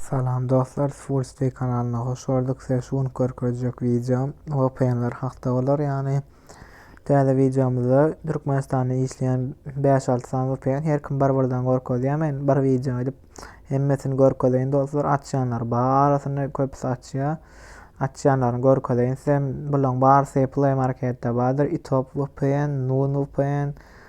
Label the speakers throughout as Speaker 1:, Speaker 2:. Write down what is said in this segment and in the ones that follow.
Speaker 1: Salam dostlar Swolstey kanalyna hoş gördük size şu gün görkezjek wideom vpnler hakda bolar ýagny täze wideomyzda Türkmenistanda işleýän 5-6 sany vpn her kim bir birden görkezýär men bir wideo edip hemmesini görkezeýin dostlar açýanlar barasyny köpüsi açýar açýanlaryny görkezeýin size bularyň barysy play marketde bardyr itop vpn nun vpn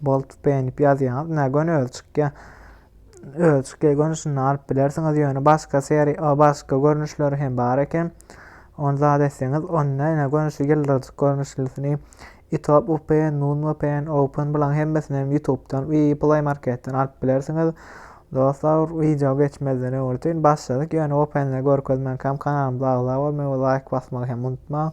Speaker 1: Boltup beýnip ýazýaňyz. Nä göni özi çykýa. Özi çykýa göni şunda alyp bilersiňiz ýöne başga seri o başga görnüşleri hem bar eken. Onu zat etseňiz onda ýene göni şu ýyldyrjyk görnüşlisini Itop UPN, Nun VPN, Open bulan hemmesini hem YouTube'dan we Play Market'ten alyp bilersiňiz. Dostlar, video geçmezden öwürtin başladyk. Ýöne OPN-leri görkezmän kam kanalymyza agza bolmagy we like basmagy hem unutmaň.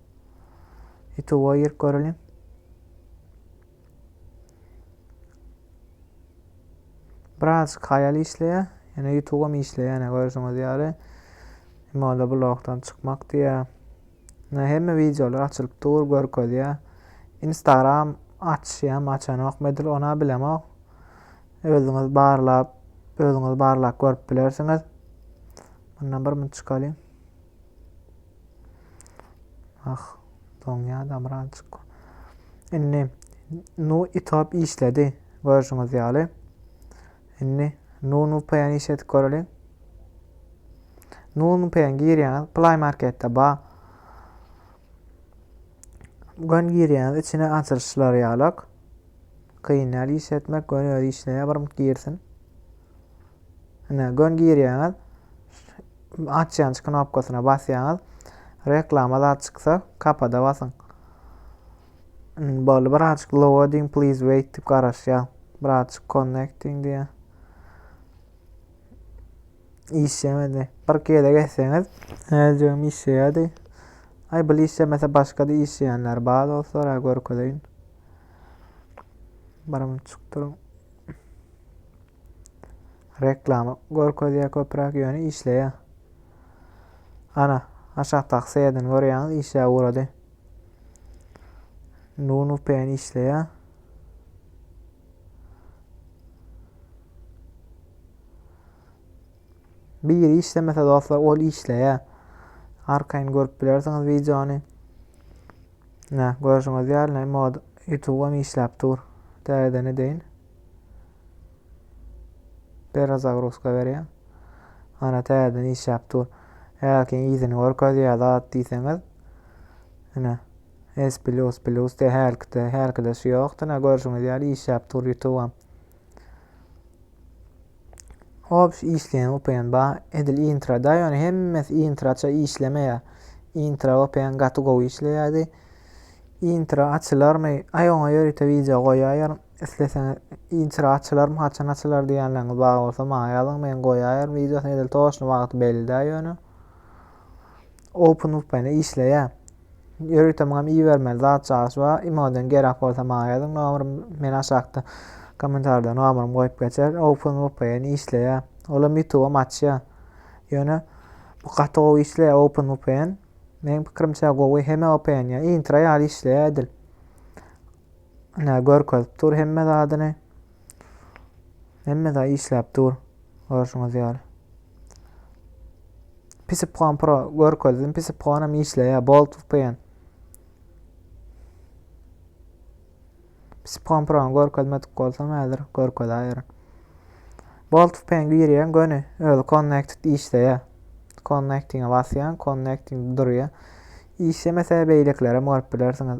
Speaker 1: Ýutuba girip göreliň. Biraz kaýal işleýär. Ýöne ýutubam işleýär, ýöne görüşiňiz ýaly. Moda blogdan çykmak diýär. Ne hemme wideolar açylyp dur, görkezýär. Instagram açýam, açanokmy edil, ona bilemok. Özüňiz barlap, özüňiz barlap görüp bilersiňiz. Bundan bir mün çykalyň. Ah, doňýa damrançyk. Indi nu itop işledi görüşüňiz ýaly. Indi nu nu peýen iş edip göreli. Nu nu peýen girýäňiz, Play Marketde ba. Gön girýäňiz, içine açylyşlar ýalak. Kyn ýaly iş etmek, gön özi işleýär, bir girsin. Ine, gön girýäňiz, Açýanç knopkasyna basýaňyz. Reklama zat çyksa, kapada basyň. Boldy, birazjyk loading please wait diýip garaşýar. Birazjyk connecting diýýär. Işlemedi. Bir gezek etseňiz, äjegim işleýärdi. Ay bu işlemese başka-da işleýänler bar dostlar, ha görkezeýin. Baramyň çykdyrym. Reklama görkezýär köpräk ýöne işleýär. Ana, aşakdaky serden görýäňiz işläp ugrady. Nunu pen işleýär. Biri işlemese dostlar ol işleýär. Arkaýyn görüp bilersiňiz wideony. Ne, görüşüňiz ýaly mod YouTube-am işläp dur. Dädene deyin. Bera zagruska berýän. Ana täzeden işläp dur. Eger ki ýüzüni görkezýär zat diýseňiz. Ine. S plus plus de herkide herkide şu ýokdy. Ine görşüňiz ýaly işläp dur YouTube. Hop şu işleýän VPN ba edil intra da ýöne hemmesi intraça işlemeýär. Intra VPN gaty gowy işleýärdi. Intra açylarmy? Aý oňa ýörite wideo goýaýaryn. Isleseňiz inçire açylarmy haçan açylar diýenleriňiz bar bolsa maňa ýazyň men goýaýaryn wideosyny edil toşny wagty belli däl ýöne. OpenVPN işleýä. Ýörite muňam ibermeli zat çagyş bar. Imodan gerek bolsa maňa ýazyň nomerym men aşakda kommentarda nomerym goýup geçer. OpenVPN işleýä. Olam YouTube-am açýa. Ýöne bu gaty gowy işleýä OpenVPN. Meň pikirimçe gowy heme VPN ýa intra ýaly işleýä edil. Ine görkezip dur hemme zadyny. Hemme zat işläp dur. Görşüňiz ýaly. Pisipkon Pro görkezdim. Pisipkon hem işleýär. Bolt VPN. Pisipkon Pro görkezmedik bolsam häzir görkezäýerin. Bolt VPN girýän göni özi connected işleýär. Connecting'e basýan, connecting durýar. İşlemese beýlekilere görüp bilersiňiz.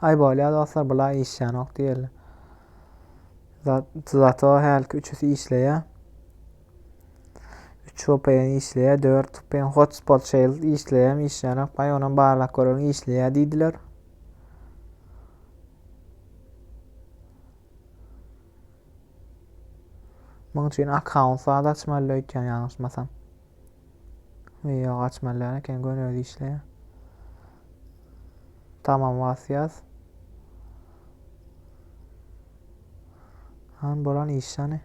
Speaker 1: Ay bolýa dostlar bula işýänok diýeli. Zato hälki üçüsi işleýä. 3 VPN işleýä, 4 VPN hotspot shell işleýäm, işleýänok. Ay onam barlak görüň işleýä diýdiler. Muň üçin akkaunt zat açmaly öýtýän ýalňyşmasam. Video açmalyan eken gön özi işleýär. Tamam wasyýas. Han bolan işani.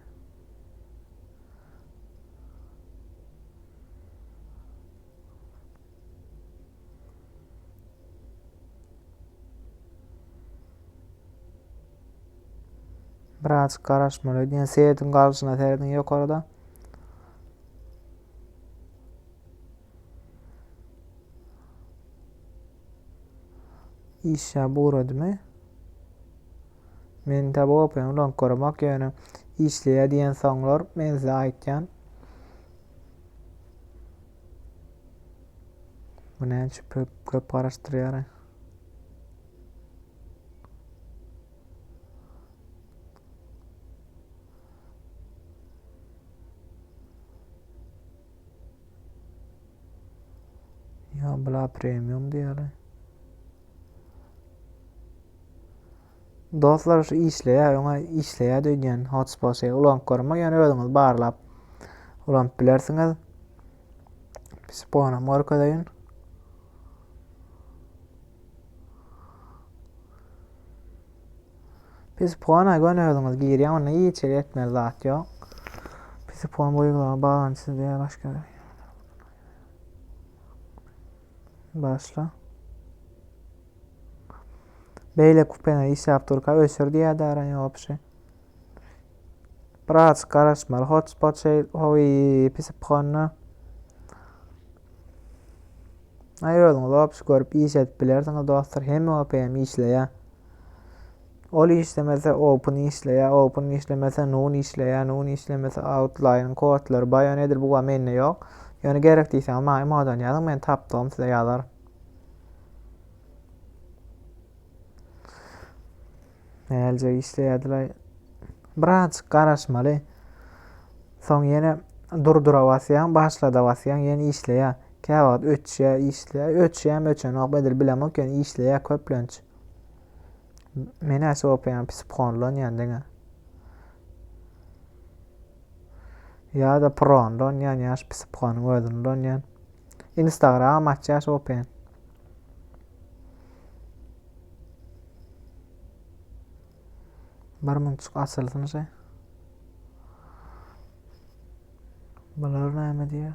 Speaker 1: Biraz garaşmaly. Diýen seýediň galşyna seredin ýokarda. Iş ýa buradymy? Men tabi open ulan korumak ýöne işleýä diýen soňlar men size aýtýan. Bu näçe köp köp garaşdyrýar. Ýa bla premium diýeli. Dostlar şu işleýär, öňe işleýär diýen hotspot şey ulanıp görmek, ýöne özüňiz barlap ulanyp bilersiňiz. Biz boýunam görkezeýin. Pisipona göni özüňiz girýän, onda hiç ýere etmeli zat ýok. Pisipon bu ýyglaga baglanyşsyz diýýär başga. Başla. Beýle kupene işläp durka ösür diýýär dara ýopşy. Biraz garaşmaly hotspot şey oy pis pukanda. Ay özüňiz opis görüp iş edip bilersiňiz dostlar. Hem OPM işleýär. Ol işlemese Open işleýär, Open işlemese Nun işleýär, Nun işlemese Outline kodlary bayan edir bu mende ýok. Ýöne gerek diýseňiz maňa emodan ýazyň men tapdygym size ýazaryn. Näljek işleýärdiler? Birazjyk garaşmaly. Soň ýene durdura basýaň, başlada basýaň, ýene işleýär. Kä wagt öçýär, işleýär. Öçýärmi, öçenok, edil bilemok, ýöne işleýär köplenç. Men-ä sopaýan, psipkonlanýan diňe. Ýa-da pronlanýan, ýa şu psipkonyň özüni ulanýan. Instagram açýar sopaýan. Bir münçük açylsyn şey. Bular näme diýýär?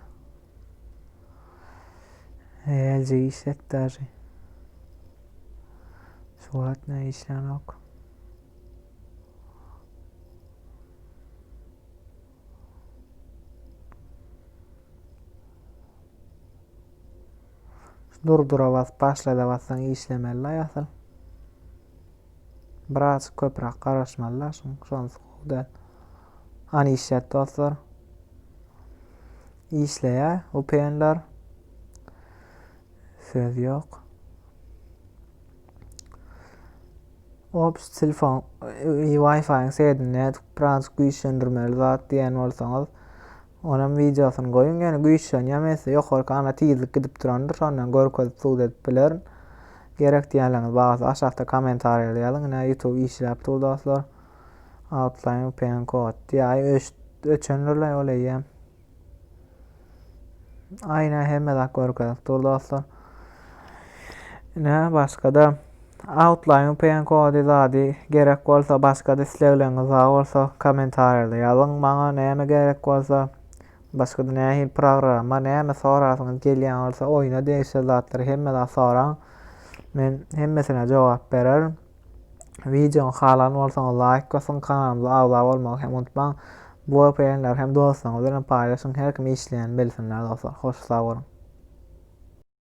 Speaker 1: Hälje işlek daşy. Şu wagt ne işlän ok. Durdura bas, başlada bassaň işlemeli-laý asyl. Biraz köprak garaşmaly-la şuň, şonsy gowy däl. An işlät dostlar. Işleýä, upenler. Söz ýok. Ops, telefon, e, Wi-Fi-iň sedini biraz güýçlendirmeli zat diýen bolsaňyz, Onam wideosyny goýuň ýöne güýçlenýäm etse ýokarky ana tizlik gidip durandyr şondan görkezip sud edip bilerin. Gerek diýýänleriňiz barsa aşakda komentarýa ýazyň ine youtube işläp dur dostlar. Outline vpn kod diýaý öçendirlaý ol eýýäm. Aýna hemme zat görkezip dur dostlar. Ine, başga-da Outline VPN kody zady gerek bolsa, başga-da islegleriňiz bar bolsa, kommentariýada ýazyň maňa näme gerek bolsa, başga-da nähili programma, näme sorasyňyz gelýän bolsa, oýna degişli zatlary hemme zat soraň. Men hemmesine jogap bererin. Wideony halan bolsaňyz laýk basyň, kanalymyza agza bolmagy hem unutmaň. Bu VPN-leri hem dostlaryňyz bilen paýlaşyň, her kim işleýänini bilsinler dostlar. Hoş sag boluň.